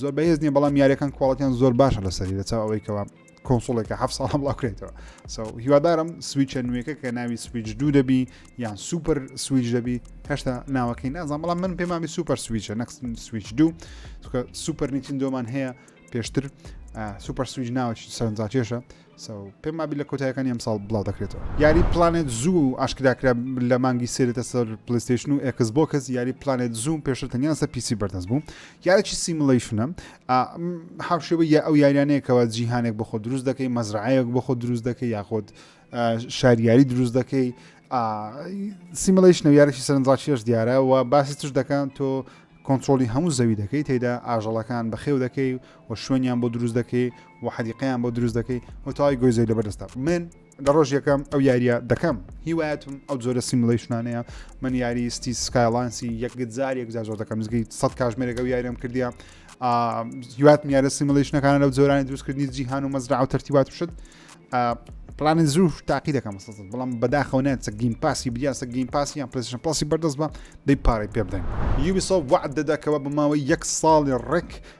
زۆر بەهێز نیە بەڵام یاریەکان کوالڵەتیان زۆر باشە لە سەری لەچاو ئەوەی کەەوە کۆنسڵێکە ه ساڵ بڵاوکرێتەوە سەو هیوادارم سویچە نوێەکە کە ناوی سویچ دوو دەبی یان سوپەر سویچ دەبی هەشتا ناوەکەی نازان بەڵام من پێمامی سوپەر سویچە نەکسن سویچ دوو سوپەر نیچین دۆمان هەیە پێشتر سوپەر سویچ ناوە سەرنجاکێشە پێم وابی لە کۆتایەکانی ئەمساڵ بڵاو دەکرێتەوە یاری پلانێت زوو ئاشکراکرا لە مانگی سێرێتە سەر پلیستیشن و ئەکس بۆ کەس یاری پلانێت زووم پێشتر تەنیان سە پیسی بەردەست بوو یارێکی سیملەیشنە حوشێوە یا ئەو یاریانەیەکەوە جیهانێک بۆ خۆ دروست دەکەی مەزرعەیەک بۆ خۆ دروست دەکەی یاخۆت شاریاری دروست دەکەی سیملەیشن و یارێکی سەرنجڕاکیش دیارە و باسی تش دەکەن تۆ کۆنتترۆلی هەموو زەوی دەکەیت تێدا ئاژەڵەکان بەخێو دەکەی و شوێنیان بۆ دروست دەکەی و حەدیقیان بۆ دروست دەکەی و تاوای گۆی زۆی لەبەردەستا من لە ڕۆژ یەکەم ئەو یاریە دەکەم هیوایەتم ئەو جۆرە سیملەیشنانەیە من یاری ستی سکایلانسی یەکجار یەکجار زۆر دەکەم زگی سە کاژمێرێک ئەو یارم کردیا هیوات میارە سیملەیشنەکان لەو جۆرانی دروستکردنی جیهان و مەزرا و تەرتیبات شت پلانە زوو تاقی دەکەم بەڵام بەداخەوە نێت سە گیم پاسی بیا سە گیم پاسی یان پرسشن پاسی بەردەست بە دەی پارەی پێ بدەین یوبیسۆ وعد دەدەکەوە بە ماوەی یەک ساڵی ڕێک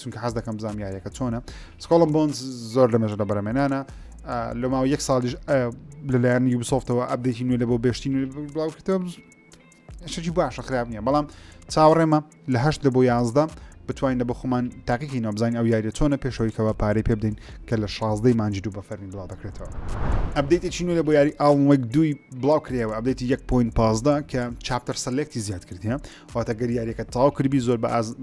چونکە حەز دەکەم بزانام یاریەکە چۆنە سکۆڵم بۆن زۆر لە مێژە لە بەرەمێنانە لە ماوە یەک ساڵیش لەلایەن یوبسۆفتەوە ئەبدێکی نوێ لە بۆ بێشتی نوێ بڵاوکردەوە شتی باشە خراپ نییە بەڵام چاوەڕێمە لە هەشت لە بۆ یازدە بتوانین لە بە خۆمان تاقیکی نابزانین ئەو یاریە چۆنە پێشەوەیکەوە پارەی پێ بدەین کە لە شازدەی مانجی دوو بە فەرمی بڵاو دەکرێتەوە ئەبدەیتی چینو لە بۆ یاری ئاڵمەک دوی بڵاو کرێەوە ئەبدەیتی 1.15 کە چاپتەر سەلێکتی زیاد کردە واتە گەر یاریەکە تاو کردبی زۆر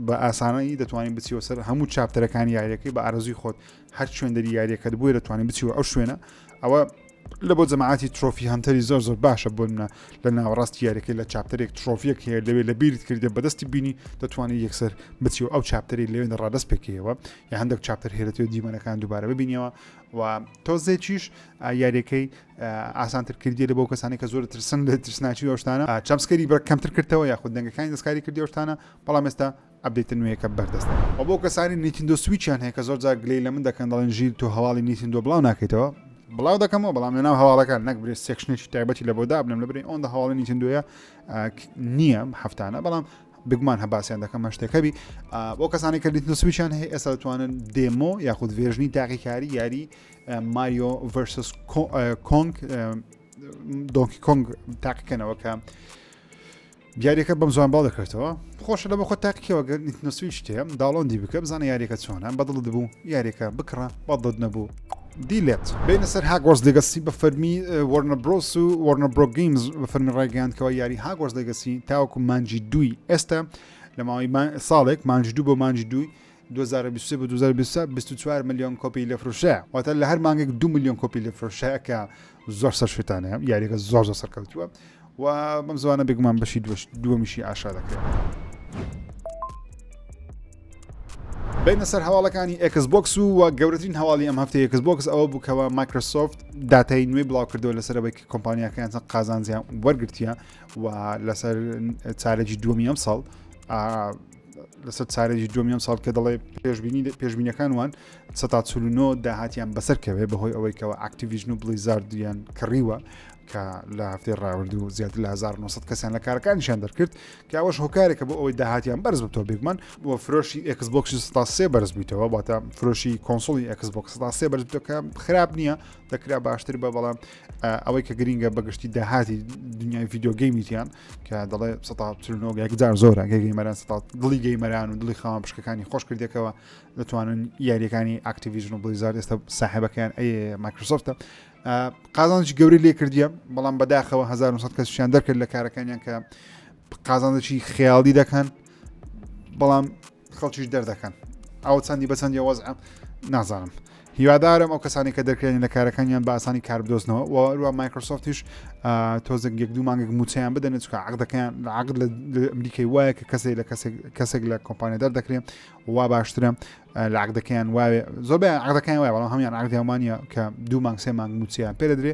بە ئاسانەی دەتوانین بچیەوە سەر هەموو چاپتەرەکانی یاریەکەی بە ئارزوی خۆت هەر شوێندەری یاریەکەت بووە دەتوانین بچیەوە ئەو شوێنە ئەوە لە بۆ جەماعاتی ترۆفی هەنتەری زۆر زۆر باشە بۆنە لە ناوەڕاست یاریەکە لە چاپتەرێک ترۆفیەک هەیە لەوێ لە بیرت کردێ بەدەستی بینی دەتوانێت یەکسەر بچی و ئەو چاپتەری لەوێن ڕادست پێکەوە یا هەندێک چاپتەر هێرەێت دیمەنەکان دووبارە ببینەوە و تۆزێکیش یاریەکەی ئاسانتر کردیە بۆ کەسانی کە زۆر دەترسن لە ترسناکی و ئەو شتانە چەپسکەری بڕ کەمتر کردەوە یاخود دەنگەکانی دەستکاری کردی ئەو شتانە بەڵام ئێستا ئەبدیتە نوێیەکە بەردەستە و بۆ کەسانی نیتندۆ سویچیان هەیە کە زۆر جار گلەی لە من دەکەن دەڵێن ژیر تۆ هەواڵی نیتندۆ بڵاو ناکەیتەوە بڵاو دەکەمەوە بەڵام لەناو هەواڵەکان نەک برێ سێکشنێکی تایبەتی لە بۆدا بنم لە برێ ئەوەندە هەواڵی نیتندۆیە نییە هەفتانە بەڵام بگمان هەباسیان دەکەم هەشتێکەبی بۆ کەسانی کە دیتنسویچیان هەیە ئێستا دەتوانن دێمۆ یاخود ڤێژنی تاقیکاری یاری ماریۆ ڤەرسس کۆنگ دۆنکی کۆنگ تاقیکەنەوە کە یاریەکە بەم زوان باڵ دەکرێتەوە خۆشە لە بە خۆ تاقیەوە گەر نسوی شتەیە داڵۆندی بکە بزانە یاریەکە چۆنە بەدڵ دەبوو یاریەکە بکڕە بەدڵ نەبوو دیلێت بینە سەر هاگۆرس دەگەسی بە فەرمی وەرنە برۆس و وەرنە برۆگەیمز بە فەرمی ڕایگەیاندکەوە یاری هاگۆرس دەگەسی تاوەکو مانجی دووی ئێستا لە ماوەی ساڵێک مانج دوو بۆ مانج دووی دوو هەزار و بیست و سێ بۆ دوو هەزار و بیست و چوار بیست و چوار ملیۆن کۆپی لێ فرۆشرا واتە لە هەر مانگێک دوو ملیۆن کۆپی لێ فرۆشرا کە زۆر سەر شوێتانەیە یاریەکە زۆر زۆر سەرکەوتووە و بەم زوانە بێگومان بەشی دوش دووەمیشی ئاشا دەکرێت بینە سەر هەواڵەکانی ئەکس بۆکس و و گەورەترین هەواڵی ئەم هەفتەیە ئەکس بۆکس ئەوە بووکەوە مایکرۆسۆفت داتای نوێی بڵاو کردەوە لەسەرەوەی کۆمپانیاکەیان چەند قازانجیان وەرگرتیە و لەسەر چارەجی دووەمی ئەم ساڵ لەسەر چارێکی دومی ئەم ساڵ کە دەڵێ پێشبینی پێشبینەکان وان سە تا چلونۆ داهاتیان بەسەر کەوێ بەهۆی ئەوەی کەەوە ئاکتیڤژن و بلیزاردیان کڕیوە کە لە هەفتەی ڕاورد و زیاتر لە 1900 کەسیان لە کارەکانشان دەرکرد کە ئەوەش هۆکارێکە بۆ ئەوەی داهاتیان بەرز بتۆ بێگومان و فرۆشی ئەکسبکسی ستا سێ بەرز بوویتەوە باتە فرۆشی کۆنسڵی ئەکسبکس ستا سێ بەرزەکە خراپ نییە دەکرا باشتر بە بەڵام ئەوەی کە گرینگە بەگشتی داهاتی دنیای یددیوگەیمیان کە دەڵێ سەنۆ یەکجار زۆرە گەیمەران ستا دڵی گەیمەران و دڵی خاوان پشکەکانی خۆش کردێکەوە دەتوانن یاریەکانی ئاکتیویژن و بلیزار ئێستا ساحبەکەیان ئەی مایکرۆسۆفتە قازانجی گەوری لێ کردیە بەڵام بەداخەوە 1970 کەسیان دەرکرد لە کارەکانیان کە قازانجی خیاڵی دەکەن بەڵام خەڵکیش دەردەکەن ئەو چەندی بەچەندی وەزعە نازانم هیوادارم ئەو کەسانی کە دەکرێن لە کارەکانیان بە ئاسانی کار بدۆزنەوە وەروە مایکرۆسۆفتیش تۆزێک یەک دوو مانگێک موچیان بدەن چکە عقدەکەیان لە عقد لە ئەمریکای وایە کە کەسێک لە کەسێک لە کۆمپانیا دەردەکرێن وا باشترە لە عقدەکەیان واێ زۆربیان عقدەکەیان وایە بەڵام هەمیان عقدیانمانە کە دوو مانگ سێ مانگ موچیان پێ دەدرێ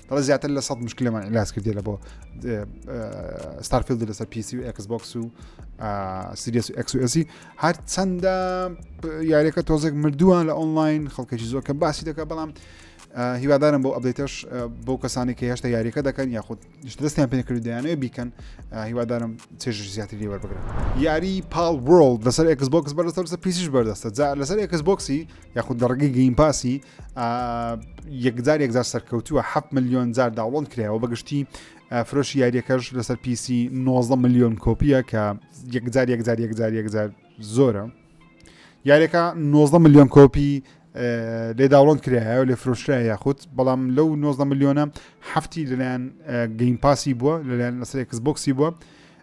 دەڵێ زیاتر لە سەد مشکلەمان علاج کردی لە بۆ ستارفیلد لەسەر پیسی و ئەکس بۆکس و سریس و ئەکسسی هەر چەندە یاریەکە تۆزێک مردووان لە ئۆنلاین خەڵکەی زۆر کە باسی دەکە بەڵام هیوادارم بۆ ئەبدەیتەش بۆ کەسانی کە هێشتا یاریەکە دەکەن یاخود دەستیان پێکرد دەیانەوە بیکەن هیوادارم چێژ زیاتر لێوە بگرن یاری پاڵ ورلد لەسەر ئەکس بۆکس بەرەسەر لەسەر پیسیش بەردەستە جا لەسەر ئەکس بۆکسی یاخود لە ڕگەی گەیمپاسی یەکجار یەکجار سەرکەوتووە 7 میلیۆن جار داوڵند کرایەوە بەگشتی فرۆشی یاریەکەش لەسەر پیسی 90 میلیۆن کۆپیە کە یەکجار یەکجار یەکجار یەکجار زۆرە یاریەکە 90 میلیۆن کۆپی لێ داوڵند کرایە و لێ فرۆشرا یاخود بەڵام لەو 90 میلیۆنە هەفتی لەلایەن گەیم پاسی بووە لەلایەن لەسەر کەس بۆکسی بووە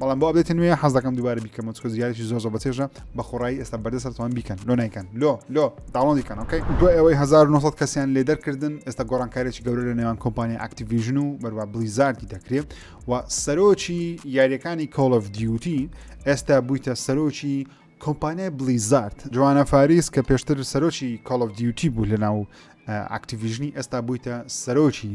بەڵام بۆ ئەبێتە نوێ حەز دەکەم دووبارە بیکەمە چکە زیارێکی زۆ زۆ بەچێژە بە خۆڕایی ئێستا بەردە سەرتوان بیکەن لۆ نایکەن لۆ لۆ داڵۆندیکەن ئۆکەی دو ئەوەی 1900 کەسیان لێ دەرکردن ئێستا گۆڕانکارێکی گەورە لە نێوان کۆمپانی ئاکتیڤژن و بەروا بلیزارتی دەکرێت و سەرۆکی یاریەکانی کۆڵف دیوتی ئێستا بوویتە سەرۆکی کۆمپانیای بلیزارت جوانە فاریس کە پێشتر سەرۆکی کۆڵف دیوتی بوو لە ناو ئاکتیڤژنی ئێستا بوویتە سەرۆکی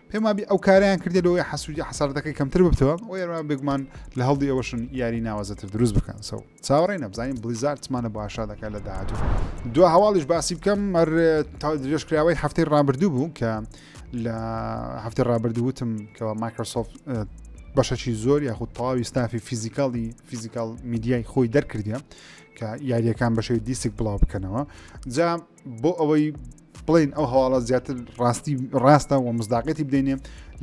پێم وابی ئەو کاریان کردێت لەوەی حەسوودی حەساردەکەی کەمتر ببتەوە و یاروان بێگومان لە هەڵدی ئەوەشن یاری ناوازەتر دروست بکەن سەو چاوەڕێ نەبزانین بلیزارتمانە باشا دەکە لە داهاتوو دو هەواڵیش باسی بکەم مەر درێژکراوەی هەفتەی ڕابردوو بوو کە لە هەفتەی ڕابردوو وتم کەەوە مایکرۆسۆفت بەشەکی زۆر یاخود تەواوی ستافی فیزیکاڵی فیزیکال میدیای خۆی دەرکردە کە یاریەکان بەشەوی دیسک بڵاو بکەنەوە جا بۆ ئەوەی بڵین ئەو هەواڵە زیاتر ڕاستی ڕاستە و مزداقەتی بدەینێ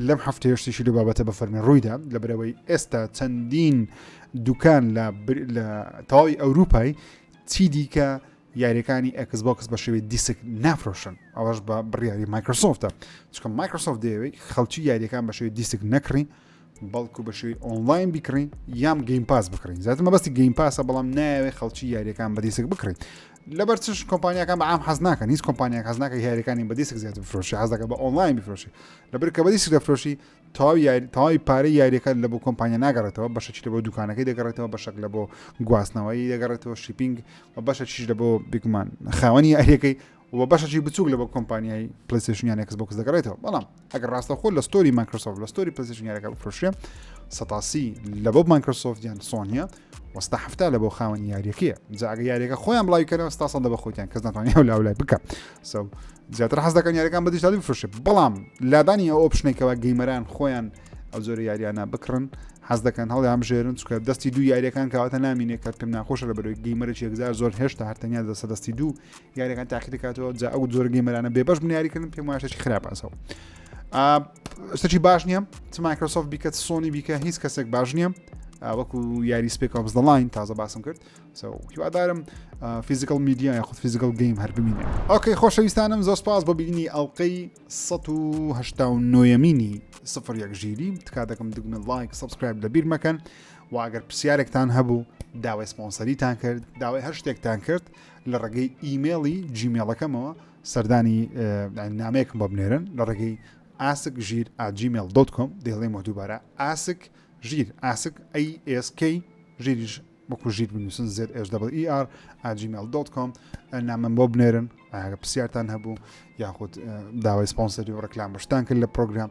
لەم هەفتە هێشتیشی لە بابەتە بە فەرمی ڕوویدا لە برەوەی ئێستا چەندین دوکان لە تەواوی ئەوروپای چی دیکە یاریەکانی ئەکس بۆکس بە شێوی دیسک نافرۆشن ئەوەش بە بڕیاری مایکرۆسۆفتە چکە مایکرۆسۆفت دەیەوەی خەڵکی یاریەکان بە شێوی دیسک نەکڕین بەڵکو بە شێوەی ئۆنلاین بیکڕین یام گەیم پاس بکڕین زیاتر مەبەستی گەیم پاسە بەڵام ناوێ خەڵکی یاریەکان بەدیسک بکڕین لەبەر چش کۆمپانیەکان بەعام حەز ناکەن هیچ کۆمپانیان حەز ناکە یاریەکانی بەدیسک زیاتر بفرۆشی حەزەکە بە ئۆنلاین بفرۆشی لەبەر کە بەدیسک دەفرۆشی تەواو یاری تەواوی پارەی یاریەکە لە بۆ کۆمپانیا ناگەڕێتەوە بەشەکی لە بۆ دوکانەکەی دەگەڕێتەوە بەشەک لە بۆ گواستنەوەی دەگەڕێتەوە شیپینگ و بەشە چیش لە بۆ بگومان خاوەنی یاریەکەی و بەشەکی بچوک لە بە کۆمپانیای پلیسشنیان ئەکس بۆکس دەگەڕێتەوە بەڵام ئەگەر ڕاستە خۆ لە ستۆری مایکرۆسۆف لە ستۆری پلیسشنیارەکە بفرشێ سەتاسی لە بۆ مایکرۆسۆف یان سۆنیە وەستا هەفتا لە بۆ خاوەنی یاریەکەیە جاگە یاریەکە خۆیان بڵاوی کەەوە ستا سەدە بە خۆیان کەس ناتوانانی ئەو لاولای بکە سەو زیاتر حەز دەکەن یاریەکان بەدیشتالی بفرشێ بەڵام لادانی ئەو ئۆپشنێکەوە گەیمەران خۆیان ئەو زۆر یاریانە بکڕن حەز دەکەن هەڵی ئەم ژێرن چکە دەستی دوو یاریەکان کەواتە نامینێ کە پێم ناخۆشە لە بەرەوەی گەیمەرێکی یەکزار زۆر هێشتا هەرتەنیا دەسە دەستی دوو یاریەکان تاقی دەکاتەوە جا ئەو جۆر گەیمەرانە بێ بەش بنیاریکردن پێم واشتێکی خراپەسەوە شتەکی باش نییە چ مایکرۆسۆفت بیکە سۆنی بیکە هیچ کەسێک باش نییە وەکو یاری سپێک ئۆفز دەڵین تازە باسم کرد هیوادارم فیزیکل میدیا یاخود فیزیکل گەیم هەر ببینێ ئۆکەی خۆشەویستانم زۆر سپاس بۆ بینی ئەڵلقەی 1970 مینی سفر یەک ژیری تکا دەکەم دگمە لایک سبسکرایب لە بیر مەکەن واگەر پرسیارێکتان هەبوو داوای سپۆنسەریتان کرد داوای هەر شتێکتان کرد لە ڕێگەی ئیمێڵی جیمێڵەکەمەوە سەردانی نامەیەکم بۆ بنێرن لە ڕێگەی ئاسک ژیر ئاجیمێل دۆت کۆم دەیڵێ مە دووبارە ئاسک ژیر ئاسک ئەسK ژیریش وەکو ژیر بنووسن زێت SWER ئاجیمێل دۆت کۆم نامەم بۆ بنێرن ئاگە پرسیارتان هەبوو یاخود داوای سپۆنسەری و ڕکلام بەشتان کرد لە پرۆگرام